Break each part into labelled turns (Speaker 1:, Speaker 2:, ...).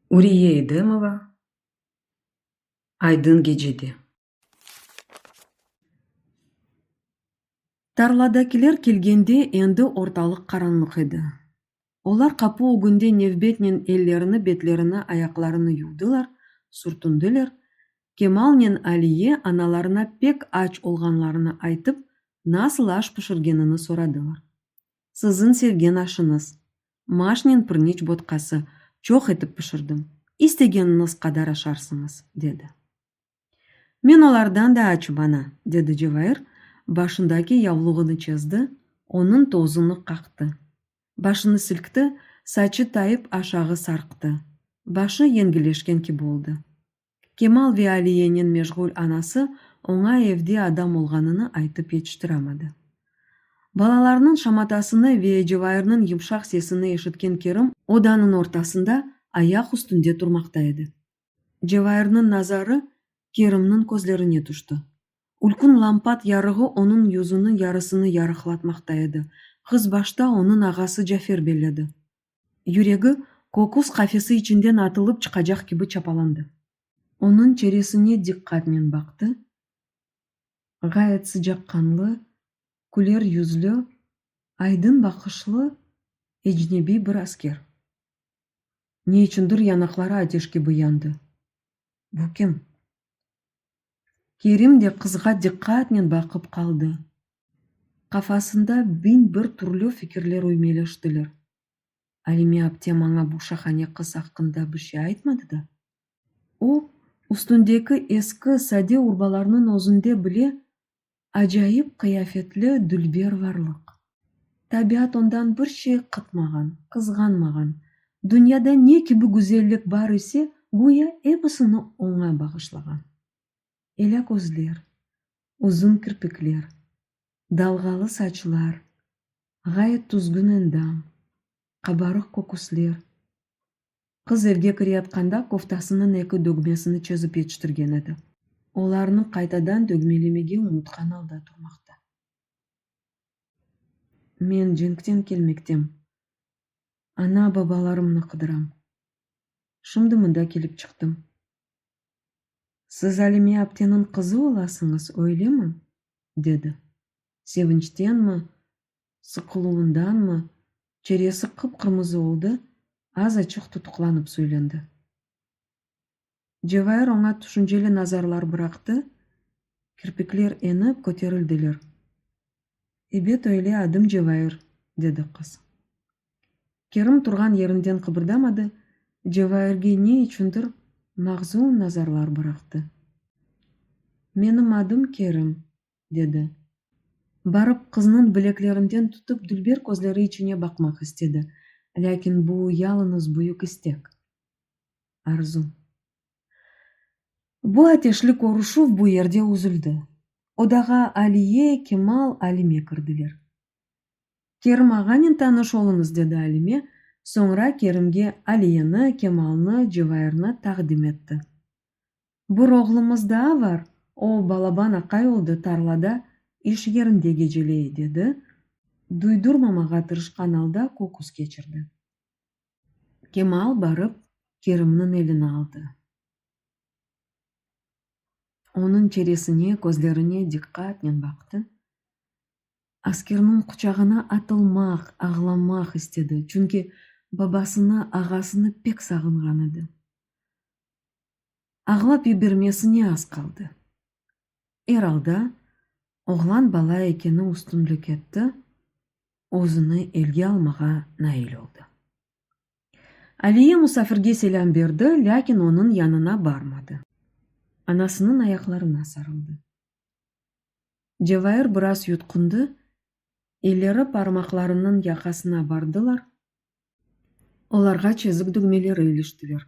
Speaker 1: Uriye İdemova, Aydın gecede. Tarladakiler kelgende endi ortalıq qaranlıq edi. Olar qapu ögünde nevbetnen ellerini, betlerini, ayaqlarını yuvdılar, sürtündiler, Kemalnen Aliye analarına pek aç olğanlarını aytıp, nasıl aş pişirgenini soradılar. Siziñ sevgen aşıñız, Maşnen pırniç botqası, çoq etip pişirdim, istegeniñiz qadar aşarsıñız, dedi. Men olardan da açım, ana, dedi Cevair, başındaki yavluğını çezdi, onıñ tozunı qaqtı. Başını silkti, saçı tayıp aşağı sarqtı. Başı yengileşken kibi oldı. Kemal ve Aliyenen meşğul anası oña evde adam olğanını aytıp yetiştiremedi. Balalarnıñ şamatasını ve Cevairniñ yımşaq sesini eşitken Kerim odanıñ ortasında ayaq üstünde turmaqta edi. Cevairniñ nazarı Kerimniñ közlerine tüşti. Ülkün lampat yarığı onıñ yüzüniñ yarısını yarıqlatmaqta edi, qız başta onıñ ağası Cafer belledi. Yüregi kokuz qafesi içinden atılıp çıqacaq kibi çapalandı. Onıñ çeresine diqqatnen baqtı, ğayet sıcaqqanlı, küler yüzlü, aydın baqışlı ecnebiy bir asker. Ne içündir yanaqları ateş kibi yandı. Bu kim? Kerim de qızğa diqqatnen baqıp qaldı. Qafasında biñ bir türlü fikirler üymeleştiler. Alime aptem aña bu şahane qız aqqında bir şey aytmadı da. O, üstündeki eski, sade urbalarnıñ özünde bile acayip qıyafetli dülber varlıq. Tabiat ondan bir şey qıtmağan, qızğanmağan. Dünyada ne kibi güzellik bar ise, güya episini oña bağışlağan. Elâ közler, uzun kirpikler, dalğalı saçlar, ğayet tuzgün endam, qabarıq köküsler, Qız evge kireyatqanda koftasınıñ eki dögmesini çezip yetiştirgen edi. Olarnı qaytadan dögmelemege unutqan alda turmaqta. Men cenkten kelmektem. Ana-babalarımnı qıdıram. Şimdi mında kelip çıqtım. Siz Alime apteniñ qızı olasıñız, öylemi? dedi. Sevinçtenmi, sıqıluvındanmı, çeresi qıp-qırmızı oldı, az-açıq tutuqlanıp söylendi. Cevahir oña tüşünceli nazarlar bıraqtı, kirpikler enip köterildiler. Ebet öyle, adım Cevahir, dedi qız. Kerim turğan yerinden qıbırdamadı, Cevahirge ne içündir mağzun nazarlar bıraqtı. Menim adım Kerim, dedi. Barıp, qıznıñ bileklerinden tutıp dülber közleri içine baqmaq istedi, lâkin bu yalıñız büyük istek, arzu. Bu ateşli körüşüv bu yerde üzüldi. Odağa Aliye, Kemal, Alime kirdiler. Kerim ağanen tanış oluñız, dedi Alime, soñra Kerimge Aliyeni, Kemalnı, Cevairni taqdim etti. Bir oğlumız daa var, o, balaban aqay oldı, tarlada, iş yerinde geceley, dedi, duydurmamağa tırışqan alda köküs keçirdi. Kemal barıp Kerimniñ elini aldı. Onıñ çeresine, közlerine diqqatnen baqtı. Askerniñ quçağına atılmaq, ağlamaq istedi, çünki babasını, ağasını pek sağınğan edi. ağlap yibermesine az qaldı. Er alda, oğlan bala ekeni üstünlik etti, özüni elge almağa nail oldı. Aliye musafirge selâm berdi, lâkin onıñ yanına barmadı. Anasınıñ ayaqlarına sarıldı. Cevair biraz yutqundı, elleri parmaqlarınıñ yaqasına bardılar, olarğa çezik dügmeleri iliştiler,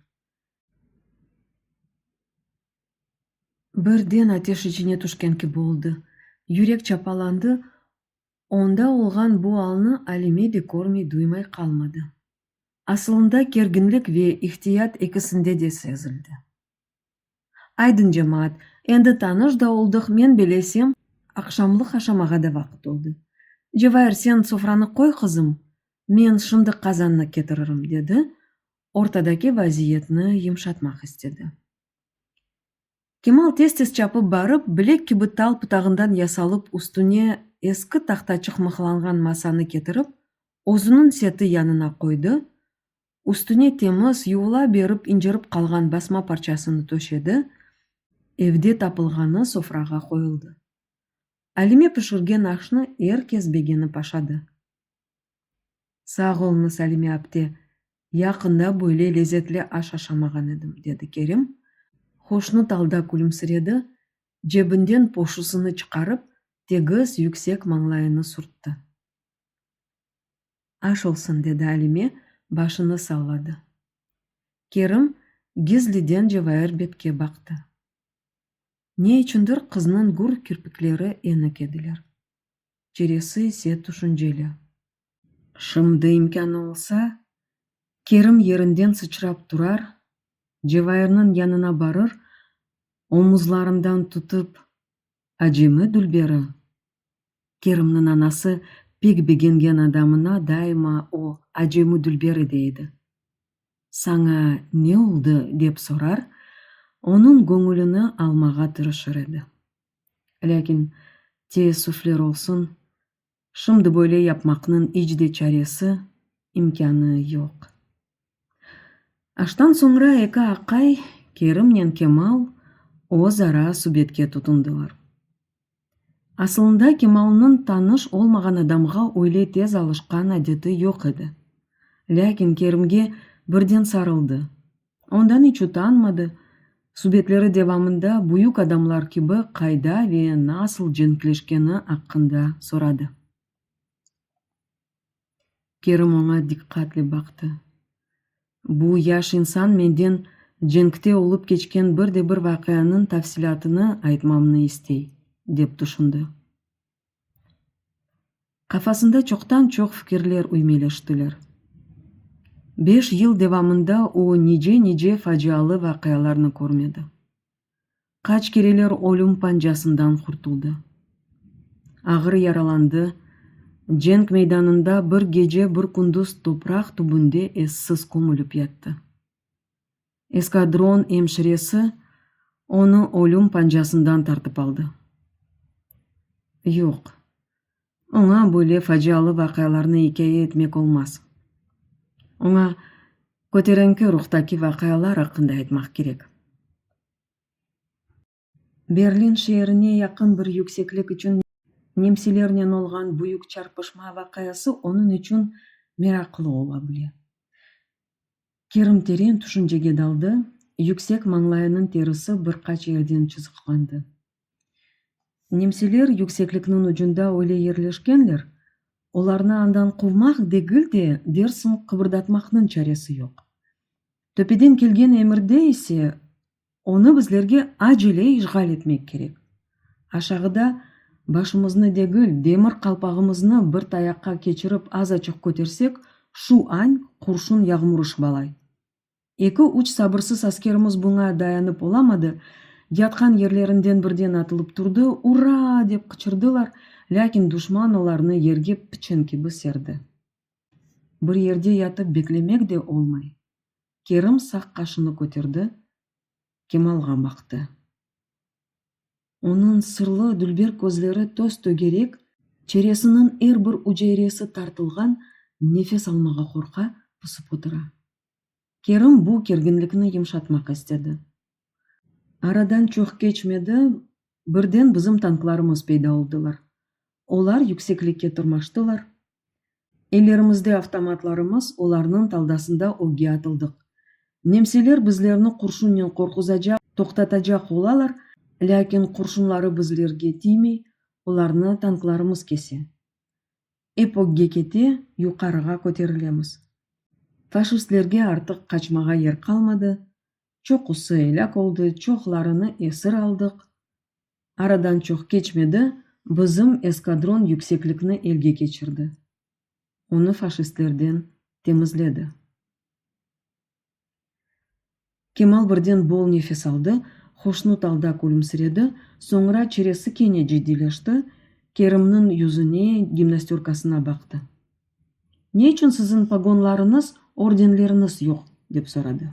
Speaker 1: Birden ateş içine tüşken kibi oldı. Yürek çapalandı, onda olğan bu alnı Alime de körmey-duymay qalmadı. Asılında kerginlik ve ihtiyat ekisinde de sezildi. Aydın, cemaat, endi tanış da oldıq, men belesem, aqşamlıq aşamağa da vaqıt oldı. Cevahir, sen sofranı qoy, qızım, men şimdi qazannı ketiririm, dedi, ortadaki vaziyetni yımşatmaq istedi. Kemal tez-tez çapıp barıp, bilek kibi tal pıtağından yasalıp üstüne eski tahtaçıq mıhlanğan masanı ketirip, özüniñ seti yanına qoydı, üstüne temiz, yuvula berip incirip qalğan basma parçasını töşedi, evde tapılğanı sofrağa qoyuldı. Alime pişirgen aşnı er kes begenip aşadı. Sağ olunız, Alime apte, yaqında böyle lezetli aş aşamağan edim, dedi Kerim, hoşnut alda külümsiredi, cebinden poşusını çıqarıp, tegiz, yüksek mañlayını sürtti. Aş olsun, dedi Alime, başını salladı. Kerim gizliden Cevair betke baqtı. Ne içündir qıznıñ gür kirpikleri enik ediler. çeresi ise tüşünceli. Şimdi imkânı olsa, Kerim yerinden sıçrap turar, Cevayirniñ yanına barır, omuzlarından tutıp, Acemi dülberi? Kerimniñ anası pek begengen adamına daima o Acemi dülberi deydi. Saña ne oldı? dep sorar, onıñ göñülini almağa tırışır edi. Lâkin, teessüfler olsun, şimdi böyle yapmaqnıñ iç de çaresi, imkânı yoq. Aştan soñra eki aqay, Kerimnen Kemal, öz ara subetke tutundılar. Asılında Kemalnıñ tanış olmağan adamğa öyle tez alışqan adeti yoq edi. Lâkin Kerimge birden sarıldı, Ondan iç utanmadı, subetleri devamında büyük adamlar kibi qayda ve nasıl cenkleşkeni aqqında soradı. Kerim oña diqqatle baqtı. Bu yaş insan menden cenkte olıp keçken bir de bir vaqianıñ tafsilâtını aytmamnı istey, dep tüşündi. Qafasında çoqtan-çoq fikirler üymeleştiler. Beş yıl devamında o, nice-nice facialı vaqialarnı körmedi. Qaç kereler ölüm pancasından qurtuldı. Ağır yaralandı, cenk meydanında bir gece, bir kündüz topraq tübünde essiz kömülip yattı. Eskadron emşiresi onı ölüm pancasından tartıp aldı. Yoq, oña böyle facialı vaqialarnı ikâye etmek olmaz. Oña köterenki ruhtaki vaqialar aqqında aytmaq kerek. Berlin şeerine yaqın bir yükseklik içün nemsilernen olğan büyük çarpışma vaqiası onıñ içün meraqlı ola bile. Kerim teren tüşüncege daldı, yüksek mañlayınıñ terisi bir qaç yerden çızıqlandı. Nemsiler yükseklikniñ ucunda öyle yerleşkenler, olarnı andan quvmaq degil de, dersiñ qıbırdatmaqnıñ çaresi yoq. Töpeden kelgen emirde ise Onı bizlerge acele işğal etmek kerek. Aşağıda başımıznı degil, demir qalpağımıznı bir tayaqqa keçirip azaçıq kötersek, şu añ qurşun yağmur şıbalay. Eki-üç sabırsız askerimiz buña dayanıp olamadı, yatqan yerlerinden birden atılıp turdı, Ura! dep qıçırdılar, lâkin duşman olarnı yerge piçen kibi serdi. Bir yerde yatıp beklemek de olmay. Kerim sağ qaşını köterdi, Kemalğa baqtı. Onıñ sırlı, dülber közleri töz-tögerek, çeresiniñ er bir üceyresi tartılğan, nefes almağa qorqa, pısıp otura. Kerim bu kerginlikni yımşatmaq istedi. Aradan çoq keçmedi, birden bizim tanklarımız peyda oldılar. Olar yükseklikke tırmaştılar, Ellerimizde avtomatlarımız, olarnıñ taldasında ögge atıldıq. Nemseler bizlerni qurşunnen qorquzacaq, toqtatacaq olalar, lâkin qurşunları bizlerge tiymey, olarnı tanklarımız kese. Ep ögge kete, yuqarığa köterilemiz. Faşistlerge artıq qaçmağa yer qalmadı, çoqusı elâk oldı, çoqlarını esir aldıq, Aradan çoq keçmedi, bizim eskadron yükseklikni elge keçirdi, onı faşistlerden temizledi. Kemal birden bol nefes aldı, hoşnut alda külümsiredi, soñra çiresi kene ciddiyleşti, Kerimniñ yüzüne, gimnastörkasına baqtı. Ne içün siziñ pogonlarıñız, ordenleriñiz yoq? dep soradı.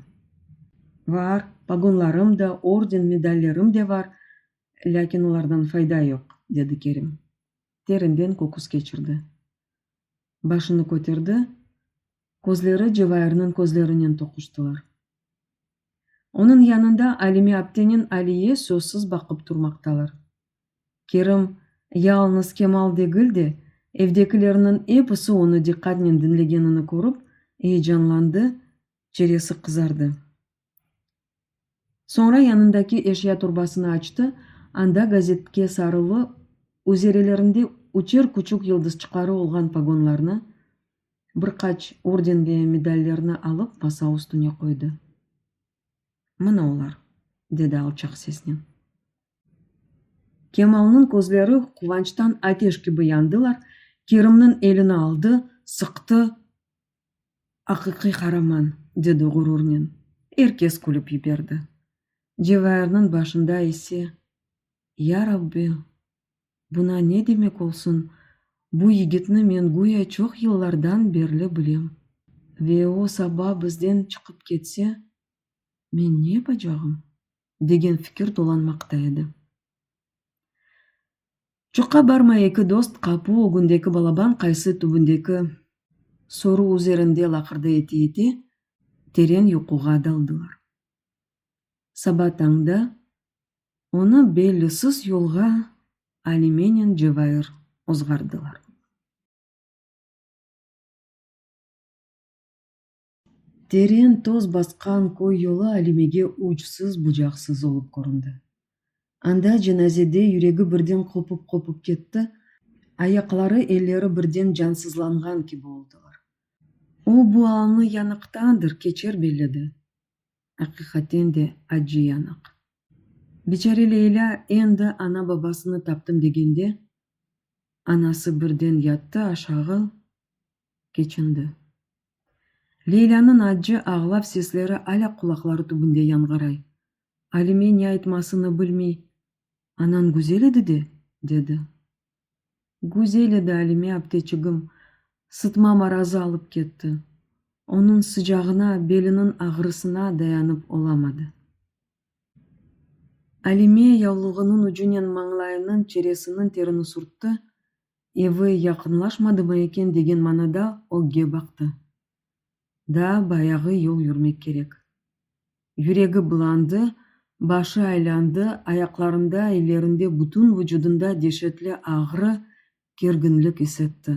Speaker 1: Var, pogonlarım da, orden, medallerim de var, lâkin olardan fayda yoq, dedi Kerim. Terinden köküs keçirdi. Başını köterdi, közleri Cevairniñ közlerinen toquştılar. Onıñ yanında Alime aptenen Aliye sözsiz baqıp turmaqtalar. Kerim yalıñız Kemal degil de, evdekilerniñ episi onı diqqatnen diñlegenini körip, eyecanlandı, çeresi qızardı. Soñra yanındaki eşya torbasını açtı, anda gazetke sarılı, üzerelerinde üçer küçük yıldızçıqları olğan pogonlarnı, bir qaç orden ve medallerni alıp masa üstüne qoydı. Mına olar, dedi alçaq sesnen. Kemalnıñ közleri quvançtan ateş kibi yandılar, Kerimniñ elini aldı, sıqtı, Aqiqiy qaraman! dedi ğururnen. Er kes külip yiberdi. Cevahirniñ başında ise, Ya Rabbi, buna ne demek olsun, bu yigitni men güya çoq yıllardan berli bilem ve o saba bizden çıqıp ketse, men ne yapacağım? degen fikir dolanmaqta edi. Çoqqa barmay eki dost qapu ögündeki balaban qaysı tübündeki soru üzerinde laqırdı ete-ete teren yuquğa daldılar. Saba tañda onı bellisiz yolğa Alimenen Cevair ozğardılar. Teren toz basqan köy yolu Alimege uçsız-bucaqsız olıp köründi. Anda cenazede yüregi birden qopıp-qopıp ketti, ayaqları, elleri birden cansızlanğan kibi oldılar. O bu alnı yanıqtandır keçer belledi. Aqiqaten de acı yanıq. Biçare Leylâ endi ana-babasını taptım degende, anası birden yattı aşağı, Keçindi. Leylânıñ accı ağlav sesleri alâ qulaqları tübünde yanğıray. Alime ne aytmasını bilmey, Anañ güzel edi de? dedi. Güzel edi, Alime apteçigim, sıtma marazı alıp ketti. Onıñ sıcağına, beliniñ ağrısına dayanıp olamadı. Alime yavluğınıñ ucunen mañlayınıñ çeresiniñ terini sürtti, Evi yaqınlaşmadımı eken degen manada ögge baqtı. Daa bayağı yol yürmek kerek. Yüregi bulandı, başı aylandı, ayaqlarında, ellerinde, bütün vucudında deşetli ağrı, kerginlik isetti.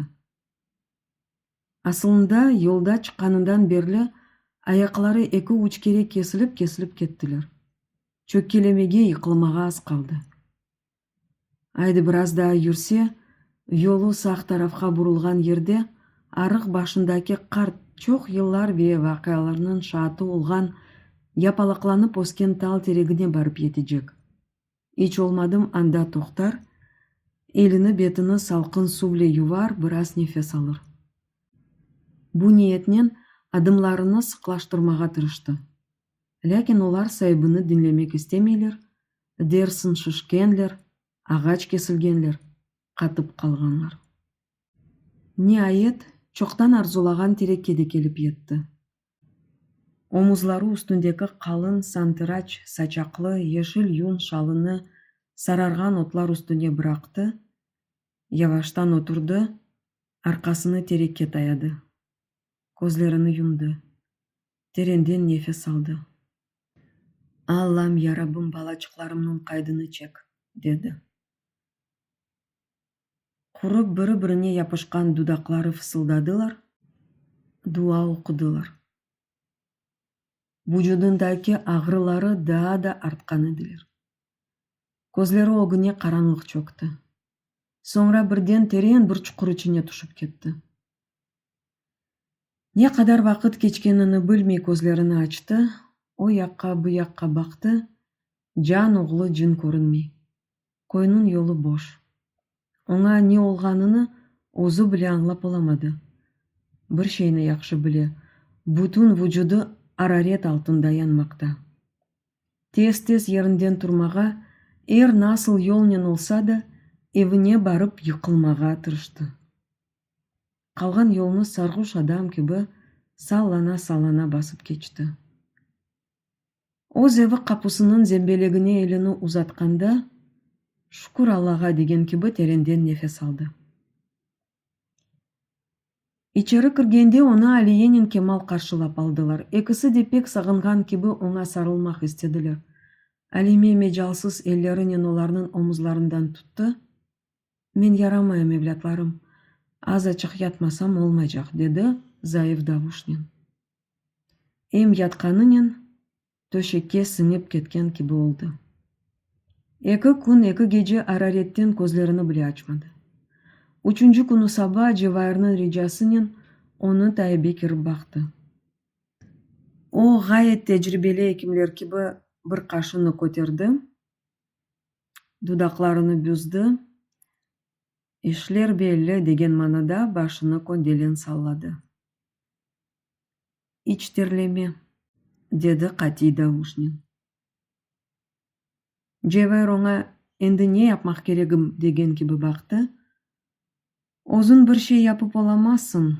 Speaker 1: Asılında, yolda çıqqanından berli ayaqları eki-üç kere kesilip-kesilip kettiler. Çökkelemege, yıqılmağa az qaldı. Aydı biraz daa yürse, yolu sağ tarafqa burulğan yerde arıq başındaki qart, çoq yıllar ve vaqialarnıñ şaatı olğan, yapalaqlanıp ösken tal teregine barıp yetecek. İç olmadım anda toqtar, elini, betini salqın suvle yuvar, biraz nefes alır. Bu niyetnen adımlarını sıqlaştırmağa tırıştı. Lâkin olar saibini diñlemek istemeyler, dersin şişkenler, ağaç kesilgenler, qatıp qalğanlar. Niayet, çoqtan arzulağan tereke de kelip yetti. Omuzları üstündeki qalın santıraç saçaqlı yeşil yun şalını sararğan otlar üstüne bıraqtı, yavaştan oturdı, arqasını tereke tayadı. közlerini yumdı, terenden nefes aldı. Allam, ya Rabbım, balacıqlarımnıñ qaydını çek, dedi. Qurıp, biri-birine yapışqan dudaqları fısıldadılar, dua oqudılar. Vucudındaki ağrıları daa da artqan ediler. Közleri ögüne qaranlıq çökti. Soñra birden teren bir çuqur içine tüşip ketti. Ne qadar vaqıt keçkenini bilmey közlerini açtı, o yaqqa, bu yaqqa baqtı, can oğlu cın körünmey. Köyniñ yolu boş. Oña ne olğanını özü bile añlap olamadı. Bir şeyni yahşı bile, bütün vucudı araret altında yanmaqta. Tez-tez yerinden turmağa, er nasıl yolnen olsa da, evine barıp yıqılmağa tırıştı. Qalğan yolnı sarğuş adam kibi sallana-sallana basıp keçti. Öz evi qapusınıñ zembelegine elini uzatqanda, Şükür Allağa! degen kibi terenden nefes aldı. İçeri kirgende onı Aliyenin Kemal qarşılap aldılar. Ekisi de pek sağınğan kibi oña sarılmaq istediler. Alime mecalsız ellerinen olarnıñ omuzlarından tuttı. Men yaramayım, evlâtlarım, azaçıq yatmasam olmaycaq, dedi zayıf davuşnen. Em yatqanınen töşekke siñip ketken kibi oldı. Eki kün, eki gece araretten közlerini bile açmadı. Üçünci künü saba Cevairniñ ricasınen onı taibe kirip baqtı. O, ğayet tecribeli ekimler kibi bir qaşını köterdi. dudaqlarını büzdi, işler belli, degen manada başını köndelen salladı. İç terleme, dedi qatiy davuşnen. Cevher oña endi ne yapmaq keregim degen kibi baqtı, Özüñ bir şey yapıp olamazsıñ,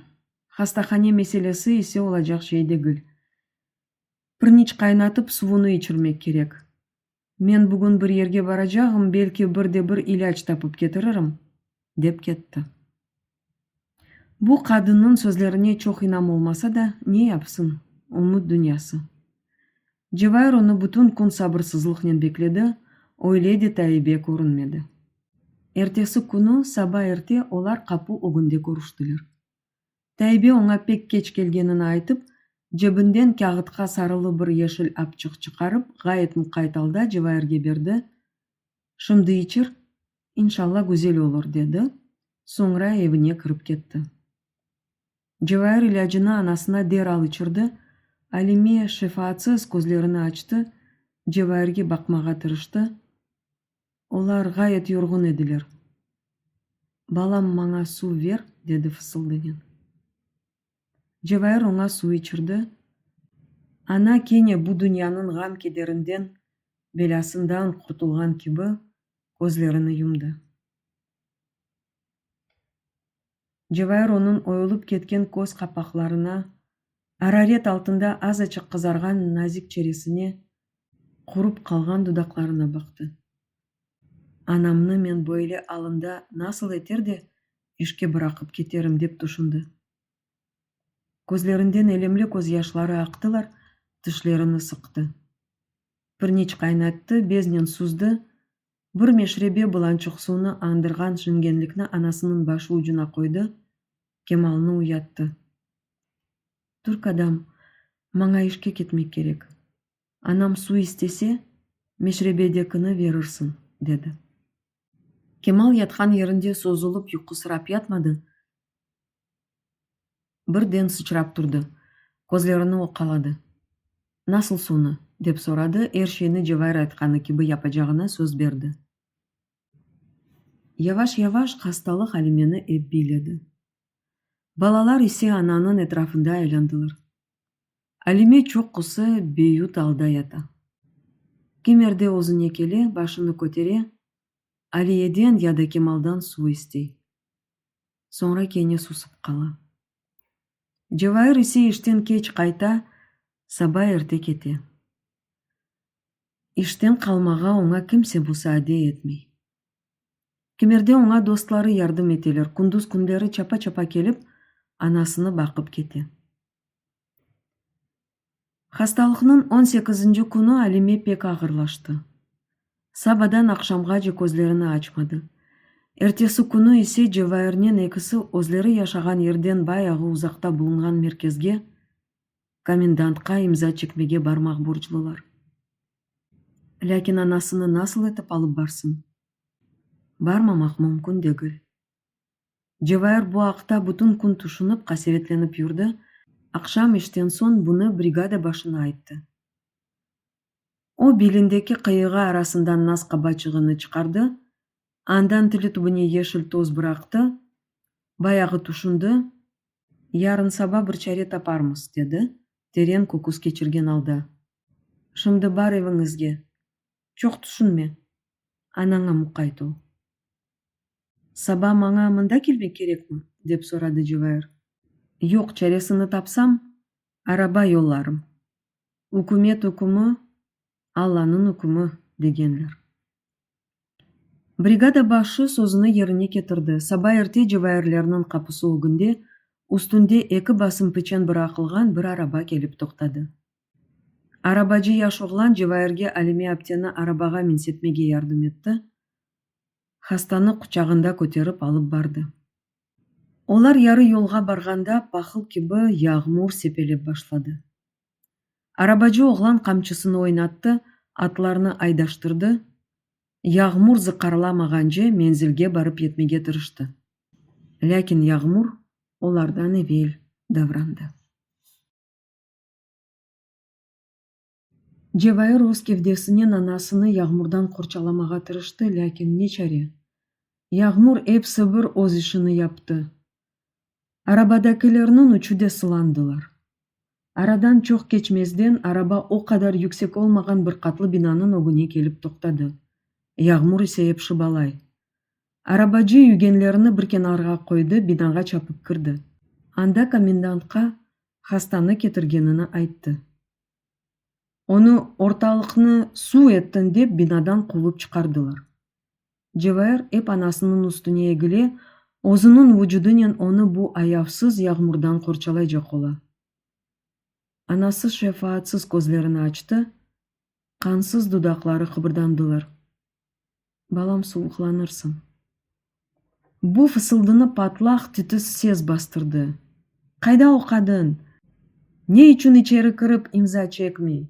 Speaker 1: hastahane meselesi ise olacaq şey degil. Pırniç qaynatıp suvunı içirmek kerek. Men bugün bir yerge baracağım, belki bir de bir ilâc tapıp ketiririm, dep ketti. Bu qadınnıñ sözlerine çoq inam olmasa da, ne yapsın, ümüt dünyası. Cevahir onı bütün kün sabırsızlıqnen bekledi, öyle de Taibe körünmedi. Ertesi künü saba erte olar qapu ögünde körüştiler. Taybe oña pek keç kelgenini aytıp, cebinden kâğıtqa sarılı bir yeşil apçıq çıqarıp, ğayet muqayt alda Cevahirge berdi, Şimdi içir, inşalla güzel olur, dedi, soñra evine kirip ketti. Cevahir ilâcını anasına deral içirdi, Alime şefaatsız közlerini açtı, Cevahirge baqmağa tırıştı, Olar ğayet yorğun ediler. Balam, maña suv ver, dedi fısıldınen. Cevahir oña suv içirdi. Ana kene bu dünyanıñ ğam-kederinden, belâsından qurtulğan kibi, közlerini yumdı. Cevahir onıñ oyulıp ketken köz qapaqlarına, araret altında azaçıq qızarğan nazik çeresine, qurup qalğan dudaqlarına baqtı. Anamnı men böyle alında nasıl eter de işke bıraqıp keterim, dep tüşündi. Közlerinden elemli közyaşları aqtılar, tişlerini sıqtı. Bir neç qaynattı, beznen süzdi, Bir meşrebe bilan çoqsuvnı añdırğan şingenlikni anasınıñ başı ucuna qoydı, Kemalnı uyattı. Türk adam, maña işke ketmek kerek. Anam suv istese, meşrebedekini verirsiñ, dedi. Kemal yatqan yerinde sozulıp yuqusırap yatmadı, Birden sıçrap turdı, közlerini oqqaladı. Nasıl sonu? dep soradı, er şeyni Cevahir aytqanı kibi yapacağına söz berdi. Yavaş-yavaş hastalıq Alimeni ep biyledi. Balalar ise ananıñ etrafında aylandılar. Alime çoq qusı, beyut alda yata. Kimerde özüne kele, başını kötere, Aliyeden ya da Kemaldan suv istey. Soñra kene susıp qala. Cevahir ise işten keç qayta, saba erte kete. İşten qalmağa oña kimse musaadeyi etmey. Kimerde oña dostları yardım eteler, kunduz künleri çapa-çapa kelip, anasını baqıp kete. Hastalıqnıñ on sekizinci künü Alime pek ağırlaştı. Sabadan aqşamğace közlerini açmadı. Ertesi künü ise Cevairnen ekisi özleri yaşağan yerden bayağı uzaqta bulunğan merkezge, komendantqa imza çekmege barmaq borclular. Lâkin anasını nasıl etip alıp barsıñ? Barmamaq mümkün degil. Cevahir bu aqta bütün kün tüşünip, qasevetlenip yürdi, aqşam işten soñ bunı brigada başına ayttı. O, belindeki qıyığı arasından nas qabaçığını çıqardı, andan tili tübüne yeşil toz bıraqtı, bayağı tüşündi, yarınsaba bir çare taparmız, dedi, teren köküs keçirgen alda. Şimdi bar eviñizge, çoq tüşünme, anaña muqayt ol. Saba maña mında kelmek kerekmi? dep soradı Cevahir. Yoq, çaresini tapsam, araba yollarım. Ükümet ükümü, Allanıñ ükümü, degenler. Brigada başı sözüni yerine ketirdi. Saba erte Cevahirlerniñ qapısı ögünde üstünde eki basım piçen bıraqılğan bir araba kelip toqtadı. Arabacı yaş oğlan Cevahirge Alime apteni arabağa minsetmege yardım etti, hastanı quçağında köterip alıp bardı. Olar yarı yolğa barğanda pahıl kibi yağmur sepelep başladı. Arabacı oğlan qamçısını oynattı, atlarnı aydaştırdı, yağmur zıqqarlamağance menzilge barıp yetmege tırıştı. Lâkin yağmur olardan evel davrandı. Cevair öz kevdesinen anasını yağmurdan qorçalamağa tırıştı, lâkin ne çare? Yağmur epsi bir öz işini yaptı. Arabadakilerniñ üçü de sılandılar. Aradan çoq keçmezden araba o qadar yüksek olmağan bir qatlı binanıñ ögüne kelip toqtadı. Yağmur ise epşip alay. Arabacı yügenlerini bir kenarğa qoydı, binağa çapıp kirdi. Anda komendantqa hastanı ketirgenini ayttı. Onı ortalıqnı suv ettin dep binadan quvıp çıqardılar. Cevahir ep anasınıñ üstüne egile, özüniñ vucudınen onı bu ayavsız yağmurdan qorçalaycaq ola. Anası şefaatsız közlerini açtı, qansız dudaqları qıbırdandılar. Balam, sovuqlanırsıñ. Bu fısıldını patlaq tütüs ses bastırdı. Qayda o qadın? Ne içün içeri kirip imza çekmey?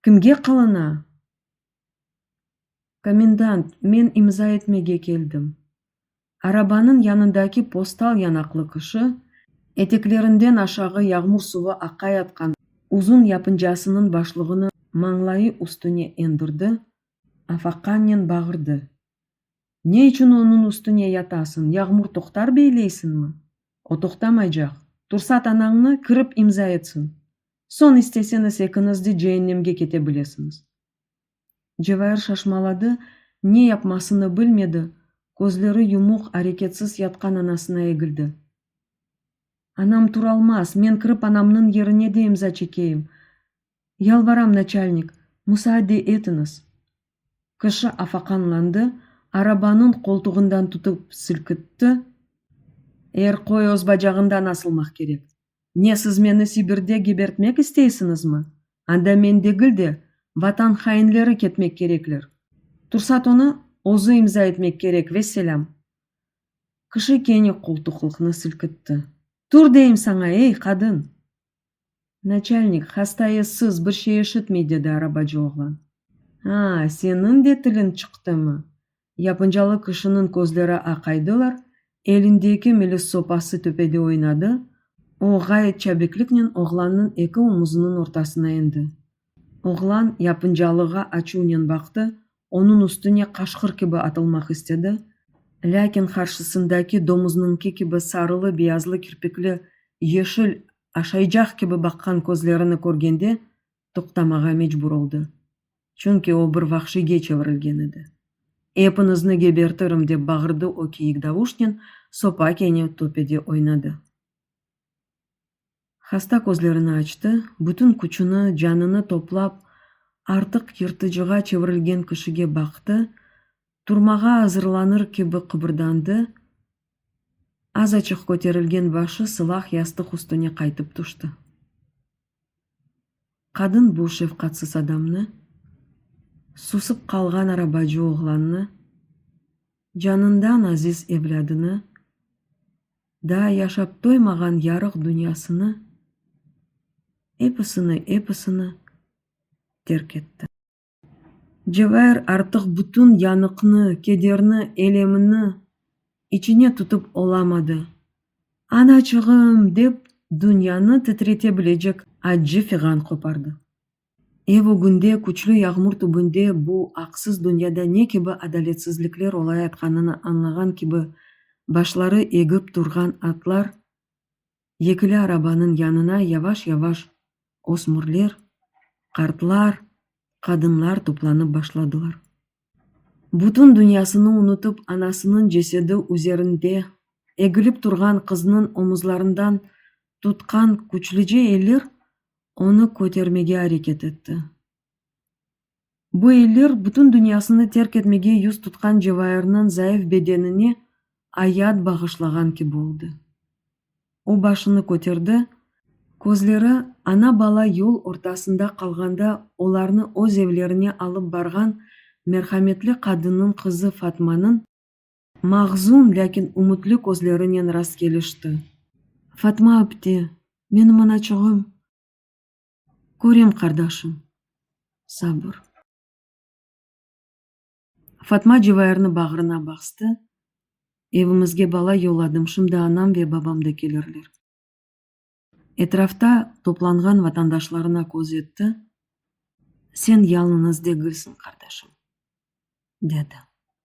Speaker 1: Kimge qılına? Komendant, men imza etmege keldim. Arabanıñ yanındaki postal yanaqlı kişi, eteklerinden aşağı yağmur suvı aqayatqan uzun yapıncasınıñ başlığını mañlayı üstüne endirdi, afaqannen bağırdı. Ne içün onıñ üstüne yatasıñ, yağmur toqtar beyleysiñmi? O toqtamaycaq. Tursat anañnı, kirip imza etsin. Soñ isteseñiz ekiñiz de ceennemge kete bilesiñiz. Cevahir şaşmaladı, ne yapmasını bilmedi, közleri yumuq, areketsiz yatqan anasına egildi. Anam turalmaz, men kirip anamnıñ yerine de imza çekeyim, Yalvaram, naçalnik, musaade etiñiz! Kişi afaqanlandı, arabanıñ qoltuğından tutıp silkitti. Er qoy öz bacağından asılmaq kerek. Ne, siz meni Sibirde gebertmek isteysiñizmi? Anda men degil de, Vatan hainleri ketmek kerekler. Tursat onı özü imza etmek kerek, vesselâm! Kişi kene qoltuqlıqnı silkitti. Tur, deyim saña, ey, qadın! Naçalnik, hastaya sız, bir şey eşitmey, dedi arabacı oğlan. A, seniñ de tiliñ çıqtımı? Yapıncalı kişiniñ közleri aqaydılar, elindeki milis sopası töpede oynadı, o, ğayet çabikliknen oğlannıñ eki omuzınıñ ortasına endi. Oğlan yapıncalığa açuvnen baqtı, Onıñ üstüne qaşqır kibi atılmaq istedi, lâkin qarşısındaki domuznıñki kibi sarılı-beyazlı kirpikli, yeşil, aşaycaq kibi baqqan közlerini körgende toqtamağa mecbur oldı. Çünki o bir vahşiyge çevirilgen edi. Epinizni gebertirim! dep bağırdı o kiyik davuşnen, sopa kene töpede oynadı. Hasta közlerini açtı, bütün küçüni, canını toplap, artıq yırtıcığa çevirilgen kişige baqtı, turmağa azırlanır kibi qıbırdandı, azaçıq köterilgen başı sılah yastıq üstüne qaytıp tüşti. Qadın bu şefqatsız adamnı, susıp qalğan arabacı oğlannı, canından aziz evlâdını, Daa yaşap toymağan yarıq dünyasını, episini, episini terk etti. Cevahir artıq bütün yanıqnı, kederni, elemini içine tutıp olamadı. Anaçığım! dep dünyanı titretebilecek accı fiğan qopardı. Ev ögünde, küçlü yağmur tübünde bu aqsız dünyada ne kibi adaletsizlikler olayatqanını añlağan kibi, başları egip turğan atlar yekili arabanıñ yanına yavaş-yavaş ösmürler, qartlar, qadınlar toplanıp başladılar. Bütün dünyasını unutıp, anasınıñ cesedi üzerinde egilip turğan qıznıñ omuzlarından tutqan küçlüce eller Onı kötermege areket etti. Bu eller bütün dünyasını terk etmege yüz tutqan Cevairniñ zayıf bedenine ayat bağışlağan kibi oldı. O başını köterdi, közleri ana-bala yol ortasında qalğanda olarnı öz evlerine alıp barğan merhametli qadınnıñ qızı Fatmanıñ, Mahzun, lâkin ümütli közlerinen rastkelişti. Fatma apte, menim anaçığım. Körem, qardaşım. Sabır. Fatma Cevayırnı bağrına bastı, Evimizge bala yolladım, şimdi anam ve babam da kelirler. Etrafta toplanğan vatandaşlarına köz etti, Sen yalınız degilsiñ, qardaşım, dedi.